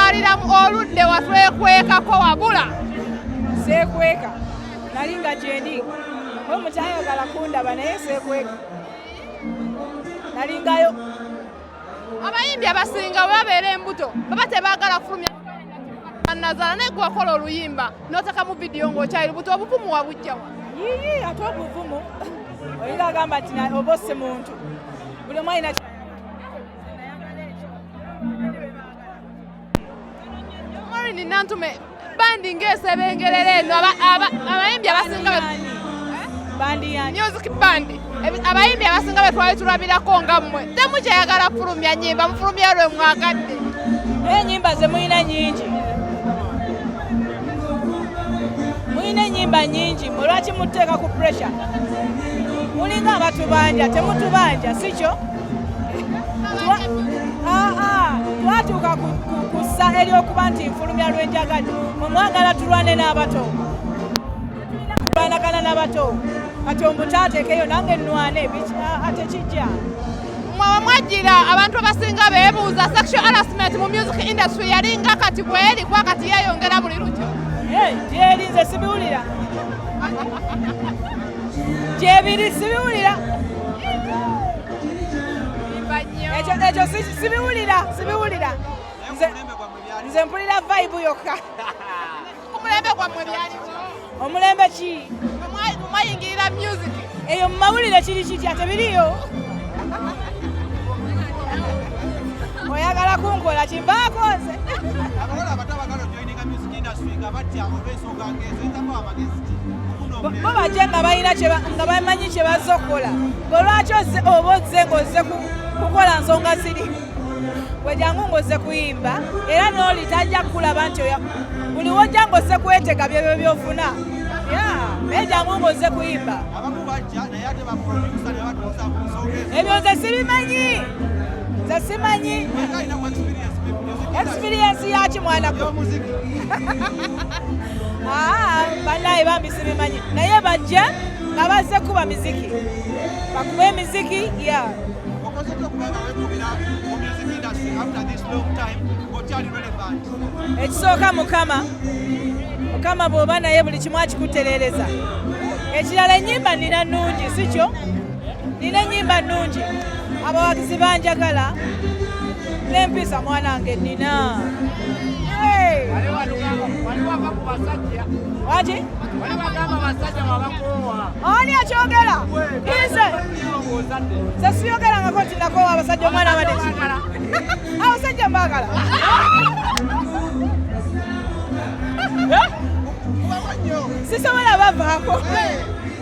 Alira mu oludde watwekwekako wabula seekweka nali nga gyendi we mukyayagala kundaba naye seekweka nalingayo abayimbi abasinga we babeera embuto baba tebaagala kufulumya nazaala naye gwewakola oluyimba noteka mu vidiyo ngaokyali lubuto obuvumu wabujjawa yiyi ate obuvumu oyinga agamba nti oba osse muntu buli omwalina Maureen Nantume bandi ng'esebengerera eno abayimbi abasinga music bandi abayimbi abasinga be twali tulabirako nga mmwe temu kyeyagala kufulumya nyimba mufulumya lwe mwagadde naye enyimba ze mulina nyingi mulina enyimba nyingi mwe lwaki muteeka ku pressure mulinga abatubanja temutubanja si kyo twatuuka kussa eri okuba nti nfulumya lwenjagadi mwemwagala tulwane n'abato tulwanagana n'abato kati omutaatekeyo nange nwane tekijja mwawe mwajjira abantu abasinga beebuuza sexual harassment mu music industry yalinga kati bweri kuba kati yeeyongera buli lukyo gyeri nze sibiwulira gyebiri sibiwulira ekyo sibiwulira sibiwulira nze mpulira vibe yokka omulembe gwammwe byaliwo omulembe ki mwayingirira music eyo mu mawulire kiri kitya tebiriyo oyagala kunkola kivaako nze bo bajja nga balina nga bamanyi kye bazza okukola gwe lwaki oba ozze ng'ozze kukola nsonga ziri wejangu ng'ozze kuyimba era n'oli tajja kukulaba nti buli wojja ng'ozze kwetega byebyo byofuna naye jangu ng'ozze kuyimba ebyo nze sibimanyi nze simanyi Experience yaki mwana gwe? Ah, banaye bambi sibimanyi. Naye bajja nga bazze kuba miziki. Bakuba emiziki, yeah. Okoze okubanga wekubira mu music industry after this long time, okyali relevant. Ekisooka Mukama. Mukama bw'oba naye buli kimu akikutereereza. Ekirala ennyimba nina nnungi, si kyo? nina enyimba nnungi abawagizi banjagala nempisa mwanange nina waki ani akyogera nze nze siyogerangako nti nakowa abasajja omwana abade abasajja mbagala sisobola bavaako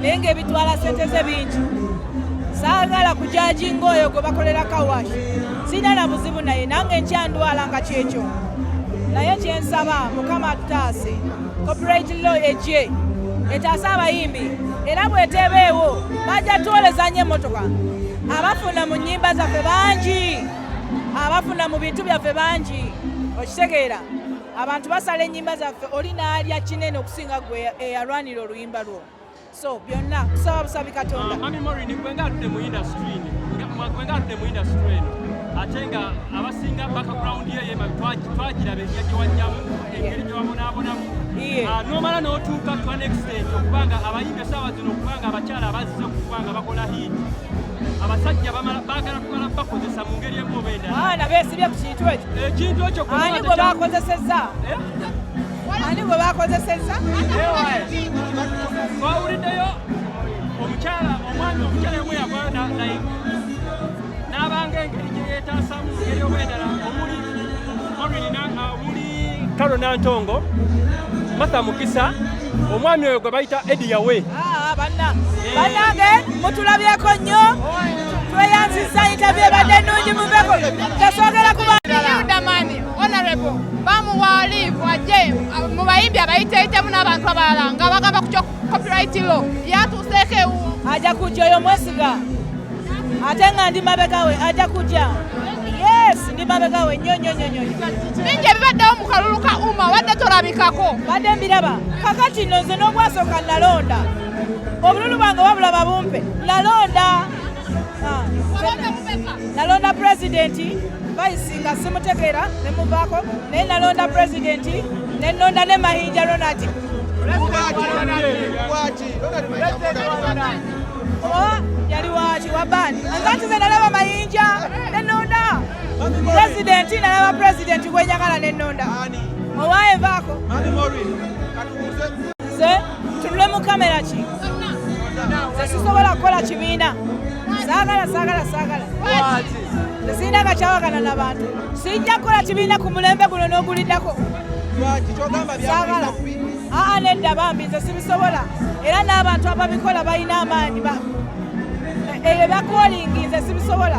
naye ng'ebitwala sente ze bingi saagala kujaji ngaoyo gwe bakolera kawash sirina na buzibu naye nange nkyandwala nga kyekyo naye kyensaba mukama atutaase copyright law egye etaase abayimbi era bwetebeewo bajja twoleza nyo emotoka abafuna mu nyimba zaffe bangi abafuna mu bintu byaffe bangi okitegeera abantu basala enyimba zaffe oli naalya kinene okusinga gwe eyalwanira oluyimba lwo so byonna tusaba busabi katonda mami morini gwe nga atudde mu industry gwe nga atudde mu industry eno ate nga abasinga background ye yema twagiraba enjira gyewajjamu engeri gyewabonaabonamu ah, nomala n'otuuka to an extent okubanga abayimbi esaawa zino okubanga abakyala abazze okubanga bakola hit abasajja bagala kumala bakozesa mu ngeri emu oba endala ah, besibye ku kintu ekyo ekintu ekyo ani gwe bakozesezza eh? ani gwe bakozesezza twawuliddeyo omukyala omwami omukyala yomwe yavayo naye n'abanga engeri gye yeetaasamu ngeri obwedala omuli morinina uh, omuli kalo nantongo matha mukisa omwami oyo gwe bayita edi yawe ah, banange mutulabyeko nnyo tweyanziza yitabyebadde ennungi muveko tesogera kuba honorable bamuwa live ajje mu bayimbi abayiteeyitemu n'abantu abalala nga bagamba ku kyo copyright law yatuuseeko ewu ajja kujja oyo mwesiga ate nga ndi mabega we ajja kujja yes ndi mabega we nnyo nnyo nnyo nnyo bingi ebibaddewo mu kalulu ka uma wadde tolabikako badde mbiraba kakati nno nze n'obwasooka nalonda obululu bwange wabulaba bumpe nalonda Ah, nalonda pulezidenti bayisi nga simutegeera ne muvaako naye nalonda pulezidenti ne nnonda ne mayinja ronald oh, yali waki wabani nzati ze nalaba mayinja ne nnonda pulezidenti nalaba pulezidenti gwenyagala ne nnonda owaevaako tunule mu kamera ki zesisobola kukola kibiina sagala sagala sagala zesirina nga kyawagana na bantu sijja kukola kibiina ku mulembe guno n'oguliddako sagala aa nedda bambi nze sibisobola era n'abantu ababikola balina amaanyi ebyo eh, eh, bakolingi nze sibisobola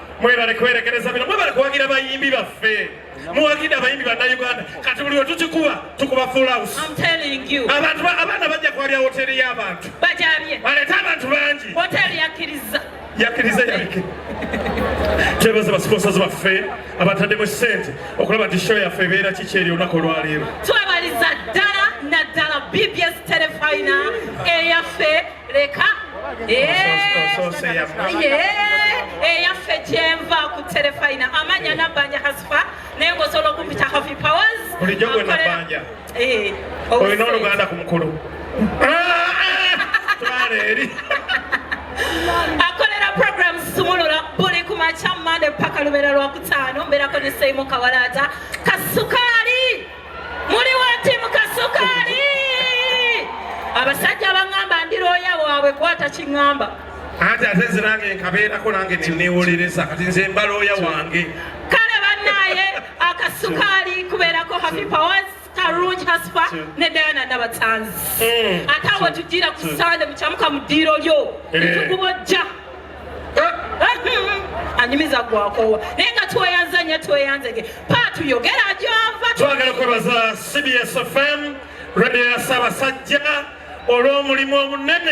mwebale kuwerekereza bino mwebale kuwagira bayimbi baffe muwagide abayimbi bannayuganda kati buli wetukikuba tukuba fulaus abantu abaana bajja kwabya woteri y'abantu balete abantu bangi yakkiriza yabike twebaza basiponsazi baffe abataddemu sente okulaba nti show yaffe ebeera kiki eri olunaku olwaleero twebaliza ddala naddala bbs telefina eyaffe leka eyaffe kyenva ku terefayina amanya nabanja hasifa naye ngaosobola okumpita hafi powers bulijjo gwe nabanja eh, olina oluganda ku mukulu twala eri akolera program sumulula buli ku makya mande paka lubeera lwakutaano mbeerako ne seimu kawalaata kasuka muli wati mukasukaali abasajja baŋŋamba ndi looya waabwe kwata kiŋŋamba anti ate nze nange nkabeerako nange neneewolereza kati nze mba looya wange kale bannaaye akasukaali kubeerako happy powers kalungi hasifa ne diana nabatanzi hmm. ate awo tugira ku sande mukyamuka mu ddiiro lyo eh. netugubojja anyumiza gwakowa naye nga tweyanza nyo tweyanzege paatu yogera gyova twagala kwebaza cbs fm radio ya ssaabasajja olw'omulimu omunene